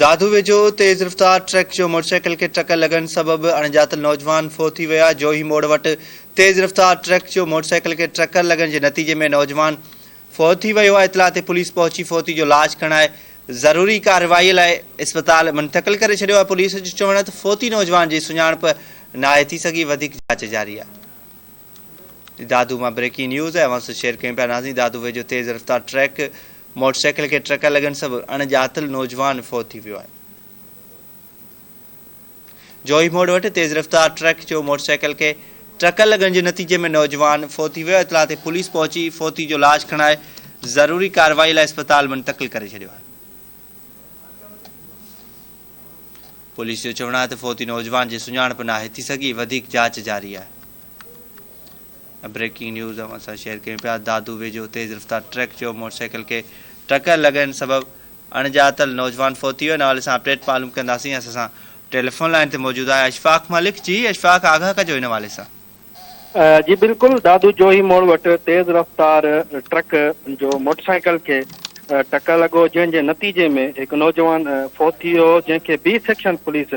دادو ويجهو تيز رفتار ٽرڪ جو موٽرسائيڪل کي ٽڪر لڳڻ سبب اڻ ڄاتل نوجوان فوت ٿي ويا جوهي موڙ وٽ تيز رفتار ٽرڪ جو موٽرسائيڪل کي ٽڪر لڳڻ جي نتيجي ۾ نوجوان فوت ٿي ويو آهي اطلاع تي پوليس پهچي فوتي جو لاش کڻائي ضروري ڪارروائي لاء اسپتال منتقل ڪري ڇڏيو آهي پوليس جو چوڻ آهي ته فوتي نوجوان جي سڃاڻپ ناهي ٿي سگهي وڌيڪ جاچ جاري آهي دادو مان بريڪنگ نيوز اوهان سان شيئر ڪيون پيا ناظرين دادو ويجهو تيز رفتار ٽرڪ موٽرسائيڪل کي ٽرڪ لڳڻ سبب اڻ ڄاتل نوجوان فوت ٿي ويو آهي. جوهي موڙ وٽ تيز رفتار ٽرڪ جو موٽرسائيڪل کي ٽرڪ لڳڻ جي نتيجي ۾ نوجوان فوت ٿي ويو، اطلاع تي پوليس پهچي فوتي جو لاش کڻائي ضروري ڪارروائي لاء اسپتال منتقل ڪري ڇڏيو آهي. پوليس جو چوڻ آهي ته فوتي نوجوان جي سڃاڻپ ناهي ٿي سگهي، وڌيڪ جاچ جاري آهي. بريڪنگ نيوز اوهان سان شيئر ڪيون پيا دادو ويجهو تيز رفتار ٽرڪ جو موٽر سائيڪل کي ٽڪر لڳڻ سبب اڻڄاتل نوجوان فوت ٿي ويو ان حوالي سان اپڊيٽ معلوم ڪنداسين اسان سان ٽيليفون لائين تي موجود آهي اشفاق ملڪ جي اشفاق آگاهه ڪجو ان حوالي سان. جي بلڪل دادو جوهي موڙ وٽ تيز رفتار ٽرڪ جو موٽرسائيڪل کي ٽڪر لڳو جنهن جي نتيجي ۾ هڪ نوجوان فوت ٿي ويو جنهن کي B section police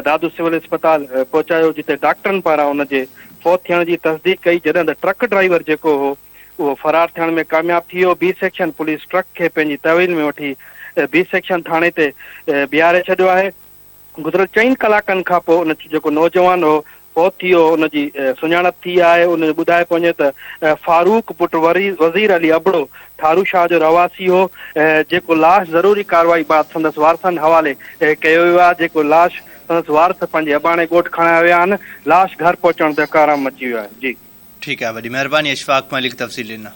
Dadu civil اسپتال پهچايو جتي ڊاڪٽرن پاران ان جي فوت ٿيڻ جي تصديق ڪئي جڏهن ته ٽرڪ ڊرائيور جيڪو هو اهو فرار ٿيڻ ۾ ڪامياب ٿي ويو بي سيڪشن پوليس ٽرڪ کي پنهنجي تحويل ۾ وٺي بي سيڪشن ٿاڻي تي بيهاري ڇڏيو آهي. گذريل چئن ڪلاڪن کان پوء ان جيڪو نوجوان هو فوت ٿي ويو هو ان جي سڃاڻپ ٿي آهي ان جو ٻڌايو پئو وڃي ته فاروق پٽ وزير علي ابڙو ٺارو شاهه جو رهواسي هو جيڪو لاش ضروري ڪارروائي بعد سندس وارثن حوالي ڪيو ويو آهي جيڪو لاش سندس وارث پنهنجي اباڻي ڳوٺ کڻائي ويا آهن لاش گهر پهچڻ تي ڪهرام مچي ويو آهي جي. ٺيڪ آهي وڏي مهرباني اشفاق ملڪ تفصيل ڏنا.